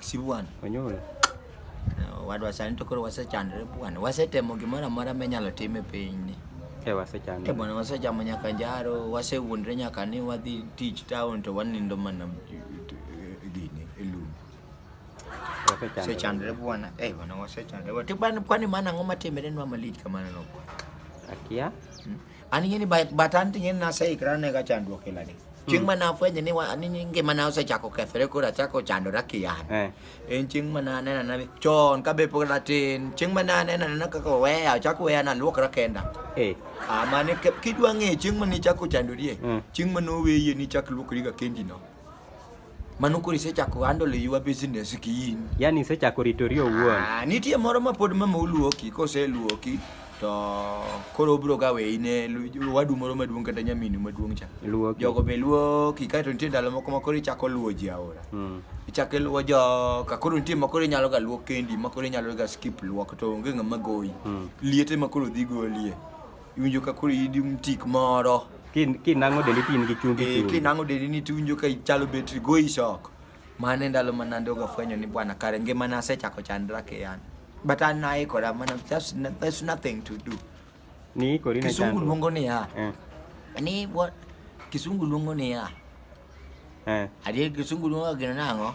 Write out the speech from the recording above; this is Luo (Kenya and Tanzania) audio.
Sibuan. Onyuol. Wadwa sani to koro wasechandre bwana. Wasetemo gimoro amora minyalo tim e pinyni. E wasechandre. E bwana wasechamo nyaka njaro, wasewuondre nyaka ni wadhi tich town to wanindo mana gini e lum. Wasechandre bwana. E bwana wasechandre. Kwani mana ang'o matimre nwa malich kamano no? Akia. Hmm? An ing'e ni ba- but an ting'e ni naseikra ne ka chandruok ila ni. Chieng' ma nafwenyo ni wa- ni ni ngima na osechako kethore koro achako chandora kian. Eh. En chieng' ma nanena na chon ka be pod atin. Chieng' ma nanena na kaka oweya achako weya naluokra kenda. Eh. Ah, mane ke- kidwa ng'eyo chieng' ma nichako chandorie, Mm. chieng' ma noweye nichak luokriga kendino. Mano koro isechako handle your business ki in. Yaani isechako ritori owuon. Ah, nitie moro ma pod mama oluoki, koseluoki to koro obro ga weyi ne lu- wadu moro maduong' kata nyaminu maduong' cha. Luoki. Jogo be luoki, kae to nitie ndalo moko ma koro ichako luwo ji aora. Mm. Ichako iluwo joka, koro nitie ma koro inyalo ga luok kendi, ma koro inyalo ga skip luok to onge ng'ama goyi. Mm. Liete ma koro dhi golie. Iwinjo ka koro idi mtik moro. Kin- Kinang'o dendi tin gi chumbi Eh, chumbi. kinang'o dendi ni tiwinjo ka ichalo betri go isoko. Mano e ndalo ma nande ogafwenyo ni bwana kare ngimana asechako chandra keyana. But an naikora mana there's, no- there's nothing to do. Ni kori na Kisungu chandruok. luongo niya. Eh, Ni what? Kisungu luongo niya. eh. Adier kisungu luongo gino nang'o?